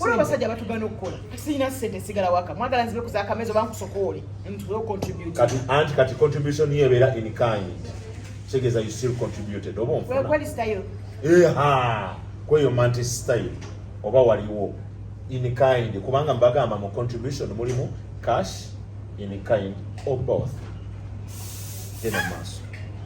Waliwo abasajja batugana okukola sirina sente sigala waka mwagala nzibe kuza akamezi oba nkusokoole anti kati contribution yo ebeera in kind kitegeeza you still contributed oba onfuna style eha kweyo manti style oba waliwo in kind kubanga mbagamba mu contribution mulimu cash in kind or both genda maaso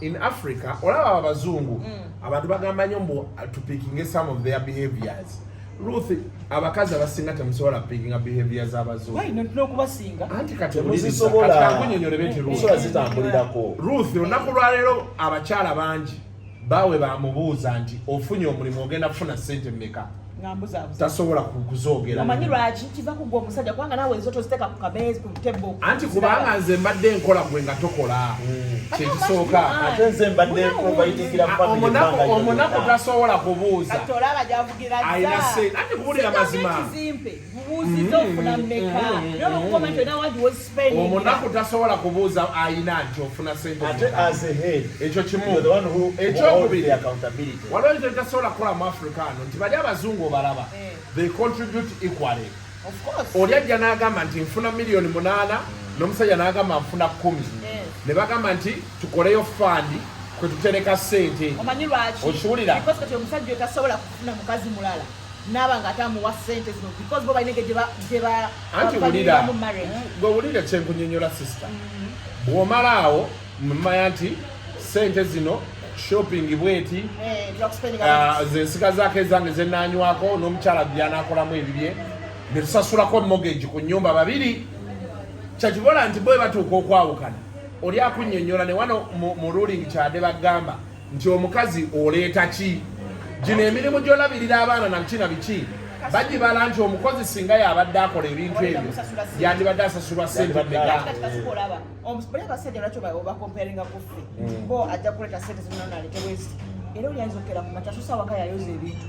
in africa olaba abazungu mm. abantu bagamba nyo mbu tupikinge some of their behaviors ruth abakazi abasinga temusobola pikinga behavior zabazunokubasinga anti katimuzisobolakunyonyole beti rusobola zitambulirako ruth olunaku lwaleero abakyala bangi bawe bamubuuza nti ofunye omulimu ogenda kufuna sente meka tasobola kuzogeramanyi lwaki kiva kugwa omusajja kubanga nawe ezo toziteka ku kameezi ku tebo anti kubanga nze mbadde nkola gwe nga tokola hmm. kyekisooka ate nze mbadde nkobayitikira omunaku tasobola kubuuza alina se anti kubulira mazima omunaku tasobola kubuuza ayina nti ofuna senteekyo kimu ekyokubiri waliwo ekyo tasobola kukola mu africa ano nti bali abazungu obalaba eh. they contribute equally oli ajja n'agamba nti nfuna miliyoni munaana n'omusajja n'agamba nfuna kumi eh. ne bagamba nti tukoleyo fandi kwe tutereka sente okiwulira naba nga ate amuwa sente zino because bo balinege gyebaamu marriage eh, gwe wulire kyenkunyonyola sister mm-hmm. bwomala awo mumanya nti sente zino shopping bweti eh, ah, zensika zako ezange zenanywako n'omukyala byanakolamu ebibye netusasulako mogeji ku nyumba babiri kyakibola nti bwe batuuka okwawukana oli akunyonyola ne wano mu ruling kyade bagamba nti omukazi oleeta ki gino emirimu gyolabirira abaana nakina biki bagibala nti omukozi singa yabadde akola ebintu ebyo yandibadde asasulwa sente mega era olyayiza okera ku makya sosa waka yayoza ebintu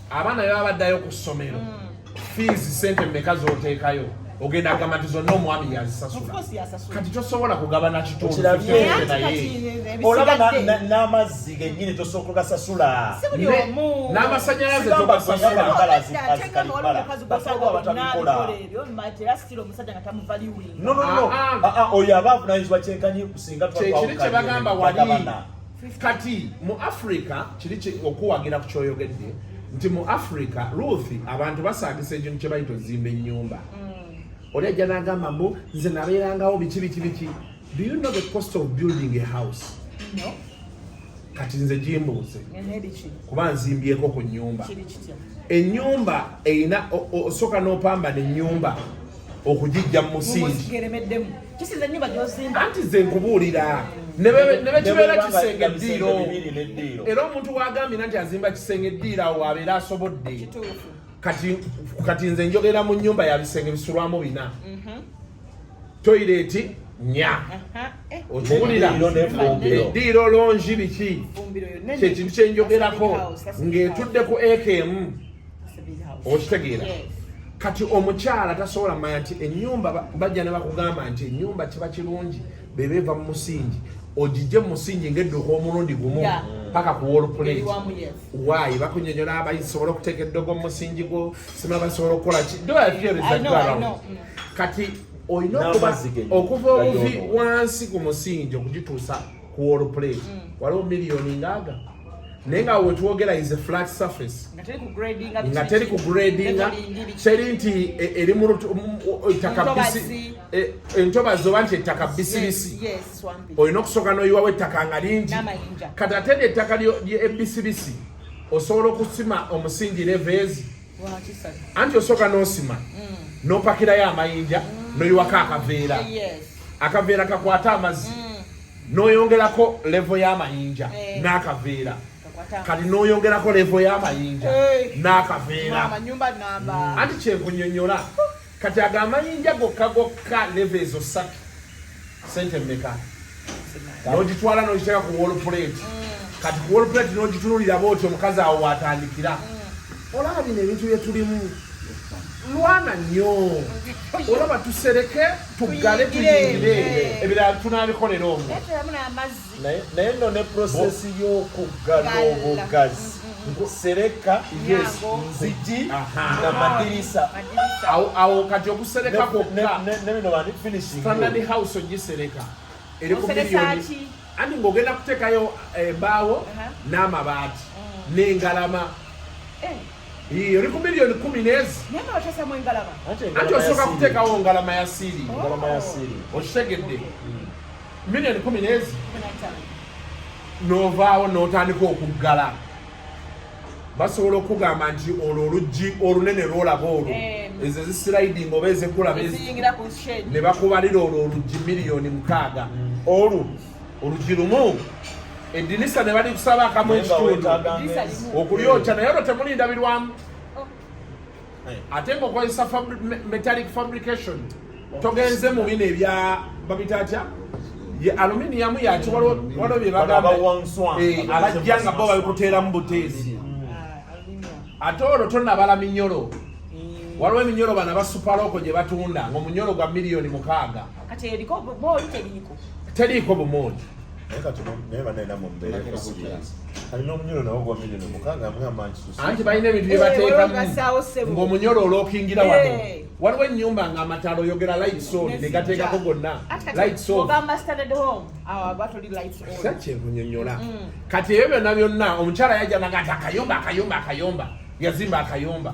abaana baba baddayo ku ssomero fiizi mm. sente mmeka z'oteekayo ogenda agamba nti zonna omwami yazisasula kati tosobola kugabana kitunduolaba n'amazzi genyini tosooka ogasasula n'amasanyalaze togasasulaoyo aba avunanyizibwa kyenkanyi kusinga kyekiri kyebagamba wali kati mu africa kiri okuwagira ku kyoyogedde nti mu africa ruth abantu basangisa ekintu kyebayita ozimba enyumba mm. oli ajja nagamba mbu nze nabeerangawo biki biki biki do you know the cost of building a house no. kati nze gimbuuze kuba nzimbyeko ku nyumba enyumba erina osooka nopambana enyumba okugijja mu musingi kisiza ennyumba gyozimba anti nze nkubuulira nebekibeera kisenge eddiiro era omuntu wagambira nti azimba kisenge eddiiro awo abeera asobodde kati nze njogera mu nyumba ya bisenge bisulwamu bina mhm. toyireti nya eh. okiwulira eddiiro longi biki kyekintu kyenjogerako ng'etudde ku aka emu okitegeera kati omukyala tasobola manya nti enyumba bajja ne bakugamba nti enyumba kiba kirungi beba eva mu musingi ogijje mumusingi ngaedduka omulundi gumu paka ku wolplate wayi bakunyonyola abasobola okuteeka eddogo mumusingi gwo sima basobola okukola ki mm. kati olina okuba okuva obuvi wansi ku musingi okugituusa ku wall plate mm. waliwo miliyoni ngaaga naye nga wetwogera is a flat surface nga teri ku gradinga teri nti e, eri mu takabisi e, entobazi oba nti ettaka bisibisi olina okusooka noyiwawo ettaka nga lingi kati ate lyettaka ebisibisi osobola okusima omusingi reveezi anti osooka n'osima mm. n'opakirayo amayinja mm. n'oyiwako akaveera akaveera kakwata amazzi mm. n'oyongerako levo y'amayinja eh. n'akaveera kati n'oyongerako levo y'amayinja n'akaveera anti kyenkunyonyola Kati ago amayinja gokka gokka leva ezo satu sente mmeka nogitwala nogiteeka ku wall plate kati ku wall plate nogitunulira booti omukazi awo watandikira olaba bino ebintu byetulimu lwana nnyo olaba tusereke tuggale tuyingire ebirala tunabikolera omwo naye no ne process y'okuggala obugazi sereka nzigi na madirisa awo kati okusereka kokkastanard house ogisereka eri ku miliyoni anti ng'ogenda kuteekayo embaawo eh, n'amabaati mm. n'engalama eh. eri ku miliyoni kumi n'ezi anti osooka kuteekawo ngalama ya siiri oh. okitegedde mm. million kumi nezi novaawo notandika okuggala basobola okugamba nti olwo oluggi olunene lwolaba olwo eh. ezo ezisiraiding oba ezekula ne bakubalira olwo oluggi miliyoni mukaaga mm. olwo oluggi lumu edinisa ne balikusaba akamu ekitundu okulyokya naye olwo temulindabirwamu eh. ate nga okozesa metallic fabrication togenze mu bino ebya babita atya ye aluminium yaki waliwo bye bagamba eh, alajja nga bo babikuteeramu buteezi ah, ate olwo tonabala minyolo mm. waliwo eminyolo bana basupalooko gye batunda ngaomunyolo gwa miliyoni mukaaga teriiko bumooli naye kati naye banaye namwe mubeereko anti balina ebintu byebateekamuomunyolo eh, olwokingira wano eh. waliwo enyumba nga amataala oyogera lightson negateekako gonna lightsonkyemunyonyola mm. kati ebyo byonna byonna omukyala yajja naga ati akayumba akayumba akayumba yazimba akayumba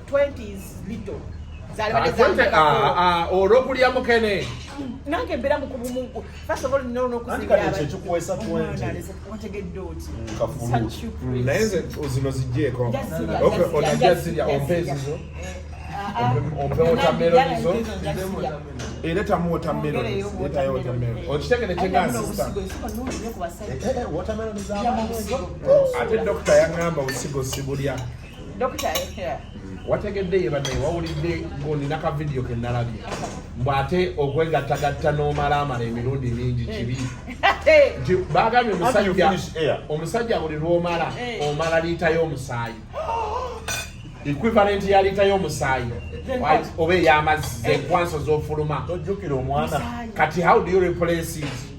olwokulya mukene nange mbeera mukubumugu naye nze zino zijjeeko onajja zirya ompa ezizo ompe wotameroni zo eleta mu watermelon leta yo watermelon okitegere kyegansi watermelon ate dokita yangamba usigo sibulya Dokita yeah. wategedde ye banaye wawulidde ng'onina ka vidiyo ke nalabye mbu ate okwegattagatta n'omalaamala emirundi mingi kibi nti bagambye omusajja omusajja buli lw'omala eh. omala liita y'omusaayi equivalent ya liita y'omusaayi oba ey'amazzi zenkwanso z'ofuluma kati how do you replace it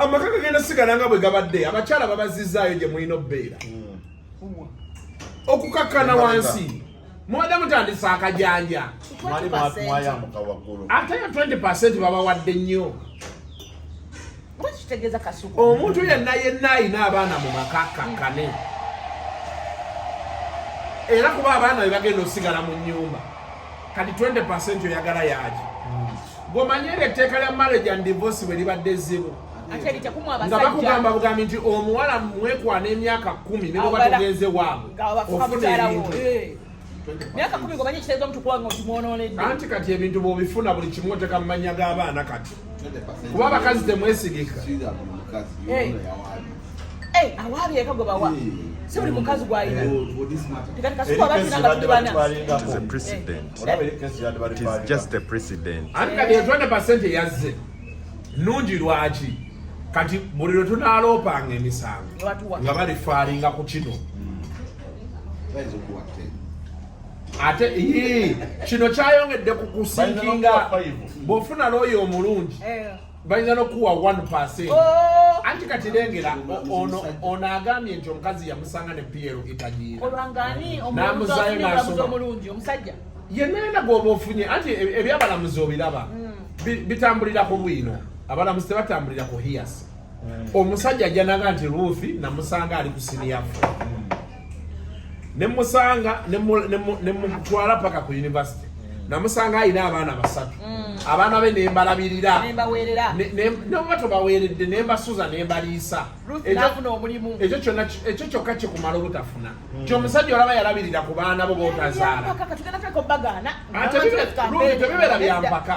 amaka gagenda sigala nga bwe gabadde abakyala babazizaayo gye mulina obbeera hmm. okukakkana wansi mubadde mutandisa akajanja ate yo 20 percent babawadde nnyo omuntu yenna yenna ayina abaana mu maka kakkane era kuba abaana be bagenda osigala mu nyumba kati 20 percent oyagala yaki hmm. bwomanyi era etteeka lya marriage and divorce bwe libadde ezzibu nga bakugamba bugambi nti omuwala mwekwana emyaka kumi ne bwoba tugenze waabwe ofuna ebintu eh. myaka kumi ngomanyi ekiteeza omutukuwanga otimwonoonedde anti kati ebintu bwobifuna buli kimu oteka mu mannya g'abaana kati kuba abakazi temwesigika Eh, awaabye eka gwe bawa si buli mukazi gwalina tekati kasukuba batina nga tuli bana yazze nungi lwaki kati buli lwe tunaloopanga emisango nga balifaalinga ku kino ate kino kyayongedde ku kusinkinga bwofuna looyo omulungi eh. bayinza nokuwa 1 oh! anti kati lengera ono ono agambye nti omukazi yamusanga ne piero itagiiraolwanganiomulungi omulungi omusajja yenayena gwoba ofunye anti e- ebyabalamuzi obiraba hmm. bitambulira ku bwino abalamuzi tebatambulira ku hiyasi hmm. omusajja ajanaga nti ruthi namusanga ali ku siniyafu hmm. ne musanga ne mutwala paka ku university namusanga alina abaana basatu mm. abaana be nembalabirira noba tobaweeredde nembasuza nembaliisa ekyo kyokka kikumala obutafuna mm. ti omusajja olaba yalabirira ku baana bo botazaala tebibeera byampaka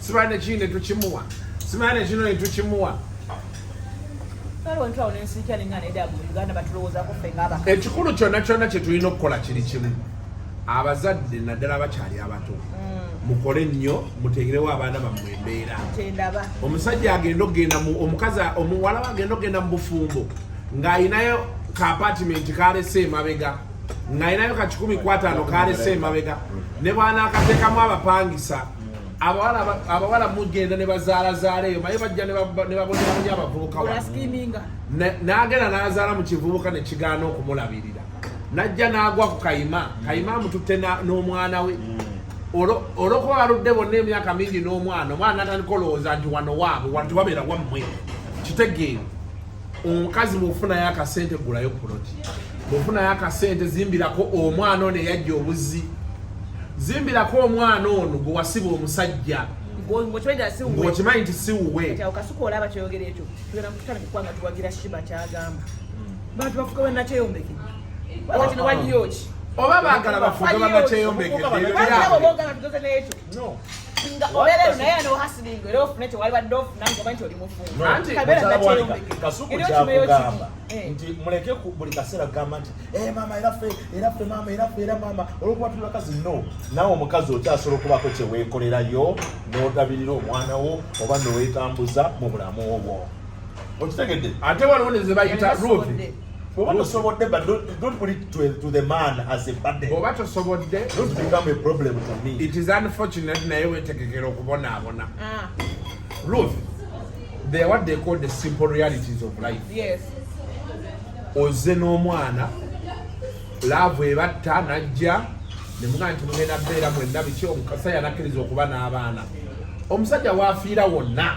Sibane ki ne tukimuwa. Sibane kino ne tukimuwa. ekikulu kyonna kyonna kye tulina okukola kiri kimu abazadde naddala abakyali abato mm. mukole nnyo mutegerewo abaana bammwe embeera omusajja agenda okugenda omukazi omuwala we agenda okugenda mu bufumbo ng'alinayo ka apatimenti kalese emabega ng'alinayo ka kikumi kwataano kalese emabega ne bwanaakateekamu abapangisa abawala mugenda ne bazaalazaala eyo maye bajja ne baboneramu nyo abavubuka n'agenda n'azaala mu kivubuka ne kigaana okumulabirira n'ajja n'agwa ku kayima kayima amututte n'omwana we mm. olwokuba baludde bonna emyaka mingi n'omwana omwana natandika olowooza nti wano waabwe wanti wabeera wammwe kitegeero omukazi bwofunayo akasente gulayo puloti bwofunayo akasente zimbirako omwana ono eyajja obuzi zimbirako omwana ono gwewasiba omusajja ngokimanyi nti siwuwe oba bagala bafuge banakyeyombekebera No. Nga olele naye ano hustling era ofune kye waliba dofu nange omanyi oli mufumbo. Anti kabera bwalika kasuku kya kugamba eh. nti muleke ku buli kaseera kugamba nti eh mama era fe era fe mama era fe era mama olwokuba tuli bakazi no nawe omukazi okyasobola okubaako kye weekolerayo n'odabirira omwana wo oba ne weetambuza mu bulamu obwo. Okitegedde ate waliwo ne ze bayita ruuti Bw'oba tosobodde but don't, don't put it to, to the man as a burden. Bw'oba tosobodde don't become a problem to me. It is unfortunate naye weetegekera okubonaabona. Ah. Ruth, they are what they call the simple realities of life. Yes. Ozze n'omwana laavu ebatta n'ajja ne mugamba nti mugenda beera mwenna biki omusajja nakkiriza okuba n'abaana omusajja waafiira wonna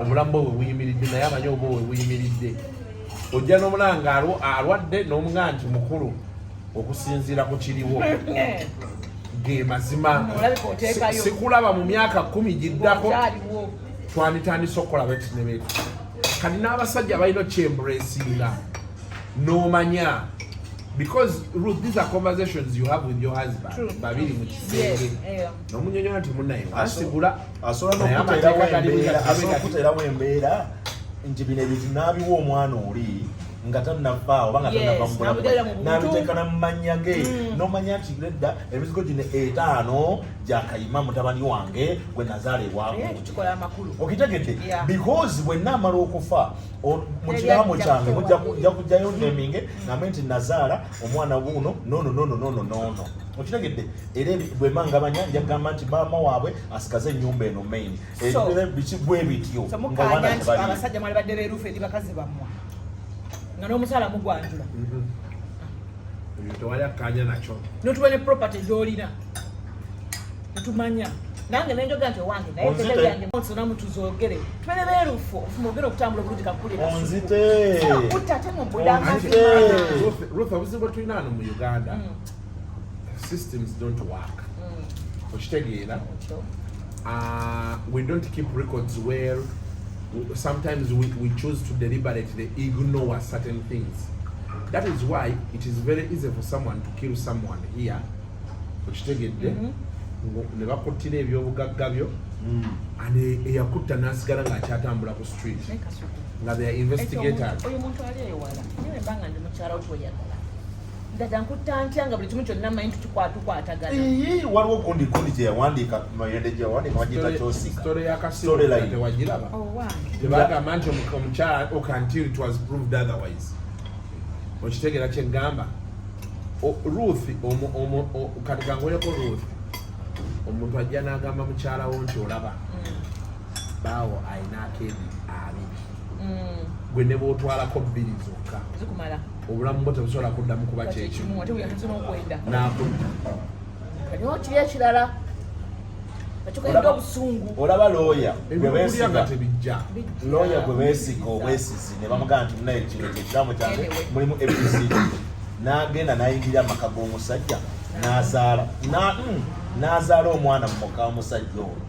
obulamu bwe bwebuyimiridde naye amanyi obwo bwebuyimiridde ojja nomulanga alwadde nomuga nti mukulu okusinziira ku kiriwo ge mazima sikulaba mu myaka kumi giddako twanditandise okukola betinebetu kati n'abasajja balina okyemburesinga nomanya because Ruth, these are conversations you have with your husband babiri mu kisenge nomunyonyola nti munaye wasigula asobola nokuterawo embeera nti bino ebintu n'abiwa omwana oli nga tannafa oba nga tanava mubulamunabiteekana mu mannya ge mm. nomanya nti nedda emizigo gino etaano gyakayima mutabani wange gwe nazaala ewamu okitegedde because bwenna amala okufa mu kiraamo kyange nja kujjayo neminge nambe nti nazaala omwana wuuno nono nono nono nono okitegedde era bwemangabanya njagamba nti maama waabwe asigaze enyumba eno main biki bwe bityo abasajja mwali badde berufu eri bakazi bamwe nga n'omusaala mugwanjula mm-hmm. tewali akkanya nakyo notuba ne property gyolina netumanya nange nenjoga nti owange nayenamu tuzogere tubere berufu ofuma ogere okutambula obulungi kakukulirakutte ate mubulamu obuzibu bwetulina ano mu uganda mm. systems don't work mm. okitegeera uh, we don't keep records where sometimes we, we choose to deliberately ignore certain things that is why it is very easy for someone to kill someone here okitegedde mm-hmm. ne bakuttira ebyobugagga byo mm. and eyakutta nasigala ngaakyatambula ku street nga they are investigators Dada nkutta ntya nga buli kimu kyonna manyi tukikwatukwatagana. Iyii waliwo gundi gundi gye yawandiika mayende gye yawandiika bagiyita kyosika. Story ya kasimu tewagiraba. Oh wow. Tebagamba nti omukyala ok until it was proved otherwise. Okitegera kye ngamba. Ruth omu omu kati kangoyeko Ruth. Omuntu ajja n'agamba mukyala wo nti olaba. Mm. Baawo alina akeedi abiri. Mm. Gwe ne bw'otwalako bbiri zokka. Zikumala. obulamu bwo tebusobola kuddamu kuba kyekimu nakudda kati okiri ekirala olaba looya gwebesiga looya gwe besiga obwesizi ne bamugamba nti munaye kino kyekiramu kyange mulimu abc n'agenda n'ayingira amaka g'omusajja n'azaala mm, n'azaala omwana mu muka omusajja ono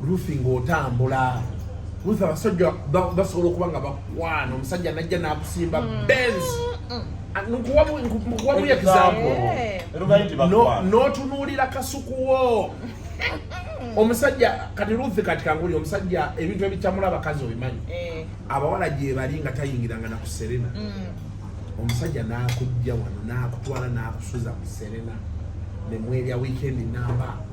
Ruthi ng'otambula Ruthi abasajja basobola okuba nga bakwana omusajja najja n'akusimba mm. Benz mm. ah, nkuwamu example n'otunuulira kasuku wo omusajja kati Ruth kati kanguli omusajja ebintu ebicamula abakazi obimanyi eh. abawala gyebali nga tayingiranga na ku Serena mm. omusajja n'akujja wano n'akutwala n'akusuza ku Serena ne mwebya weekend namba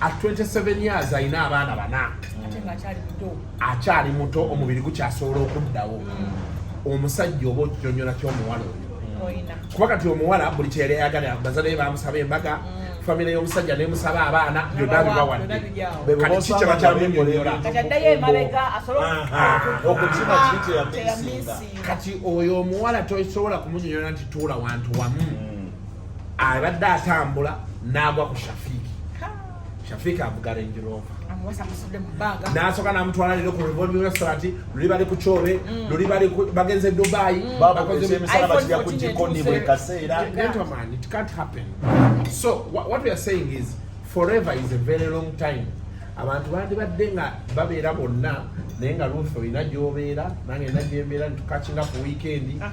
at 27 years alina abaana bana akyali muto omubiri gukyasobola okuddawo mm. omusajja oba okinyonyola kyomuwala oyo mm. kuba kati omuwala buli kyeyali ayagala bazadee bamusaba embaga mm. famire y'omusajja nemusaba abaana byonna bibawadde kati ki kyebakyamunyonyola kati oyo omuwala tosobola kumunyonyola nti tuula wantu wamu abadde atambula n'agwa ku shafiiki shafiiki avuga range rover nasoka namutwala lero ku revolving restaurant luli bali ku kyobe mm. luli bali bagenze dubai mm. gentleman it can't happen so what we are saying is forever is a very long time abantu bandibadde nga babeera bonna naye nga luufe olina gyobeera nange nina gyembeera nitukakinga ku wiikendi ah.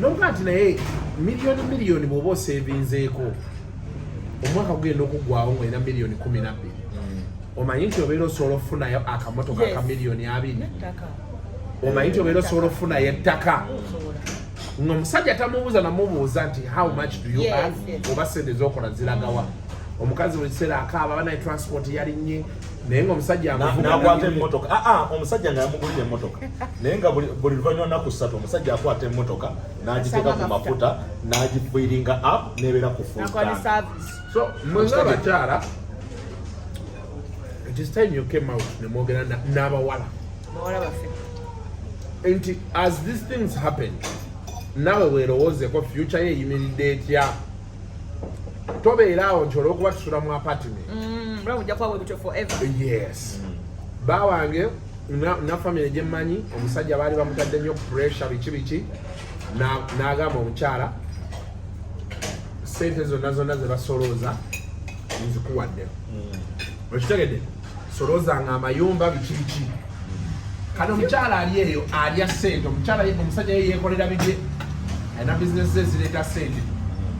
nokuga nti naye miliyoni miliyoni bwoba osevinzeeko omwaka gugenda okugwawo ngaolina miliyoni kumi nabbiri omanyi nti obeera osobola okufunayo akamotoka ka miliyoni abiri omanyi nti obeera osobola okufunayo ettaka nga omusajja tamubuuza namubuuza nti how much do you earn oba sente zokola ziragawa omukazi buli kiseera akaaba banaye transport yalinye naye nga omusajja nakwata emotoka aa ah, ah, omusajja nga yamugulira emotoka naye nga buli luvanyuma naku ssatu omusajja akwata emotoka nagiteeka ku mafuta nagifiringa app nebeera ku so mwenga abakyala this time you came out nemwogera n'abawala nti as these things happen nawe werowoozeko future ye eyimiridde etya tobeera awo nti olwokuba tusula mu apartment mm, yes mm. ba wange na famire gyemmanyi omusajja baali bamutadde nnyo pressure biki biki n'agamba omukyala sente zonna zonna zebasolooza nzikuwadde mm. okitegedde soloza nga amayumba biki biki kati omukyala ali eyo alya sente omukyala omusajja ye yekolera bibye alina bizinesi ze zireeta sente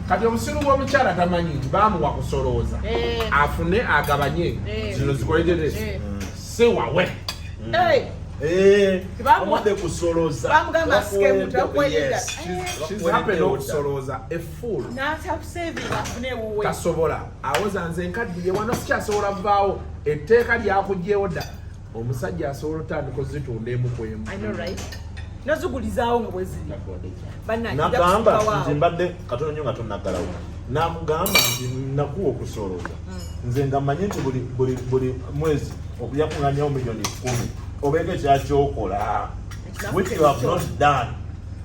kati obusiru bw'omukyala tamanyi nti bamuwa kusolooza eh. afune agabanye eh. zino zikolejere eh. siwawe tasobola awoza nze nkaddiye wano sikyasobola vaawo etteeka lyakugyewo dda omusajja asobola otandika ozitunda emu ku emu nazugulizaawo nga bweziri nagamba nti mbadde katono nyo nga tonaggalawo nakugamba nti nakuwa okusooloza hmm. nze nga manye nti buli mwezi okuyakuŋanyawo miliyoni kumi obeeko ekyakyokola which you have not done